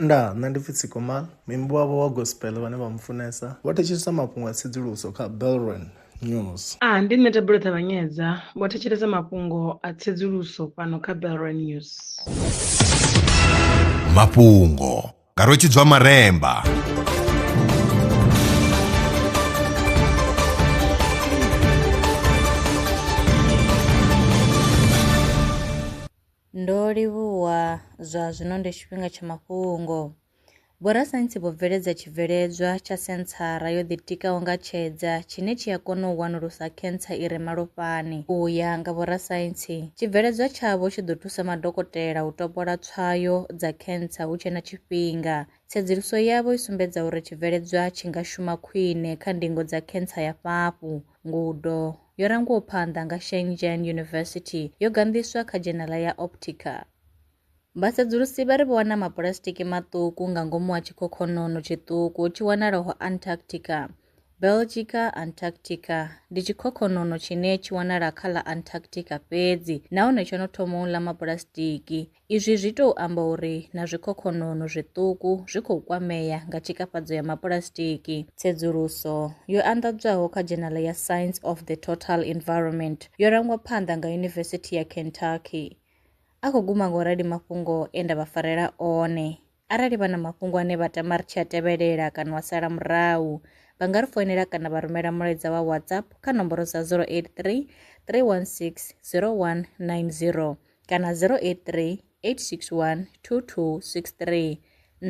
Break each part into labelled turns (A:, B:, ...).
A: Nda, nṋe ndi pfi Tsikoma, muimbi wavho wa gospel vhane vha mu funesa vho thetshelesa mafhungo a tsedzuluso kha Belron News. A, ndi nṋe Thabelo
B: Ṱavhanyedza, vho thetshelesa mafhungo a tsedzuluso fhano kha Belron News.
C: Mafhungo nga Rwetshidzwa Maremba.
D: Ndo livhuwa zwa zwino ndi tshifhinga tsha mafhungo. Vhorasaintsi vho bveledza tshibveledzwa tsha senthara yo ḓitikaho nga tshedza tshine tshi a kona u wanulusa khentsa i re malofhani. U ya nga vhorasaintsi, tshibveledzwa tshavho tshi ḓo thusa madokotela u topola tswayo dza khentsa hu tshe na tshifhinga. Tsedzuluso yavho i sumbedza uri tshibveledzwa tshi nga shuma khwine kha ndingo dza khentsa ya fhafhu, Ngudo yo rangwaho phanḓa nga Shenzhen University yo ganḓiswa kha dzhenala ya Optica. Vhasedzulusi vha ri vho wana mapulasitiki maṱuku nga ngomu ha tshikhokhonono tshiṱuku tshi wanalaho Antarctica. Belgica Antarctica ndi tshikhokhonono tshine tshi wanala kha ḽa Antarctica fhedzi nahone tsho no thoma u ḽa mapulasitiki. Izwi zwi tou amba uri na zwikhokhonono zwiṱuku zwi khou kwamea nga tshikafhadzo ya mapulasitiki. Tsedzuluso yo anḓadzwaho kha dzhenala ya Science of the Total Environment yo rangwa phanḓa nga Yunivesithi ya Kentucky. A khou guma nga u rali mafhungo e nda vha farela one. Arali vha na mafhungo ane vha tama ri tshi a tevhelela kana wa sala murahu, vha nga ri foinela kana vha rumela mulaedza wa WhatsApp kha nomboro dza 083 316 0190 kana 083 861 2263.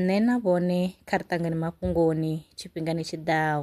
D: Nṋe na vhone kha ri ṱangane mafhungoni tshifhingani tshi ḓaho.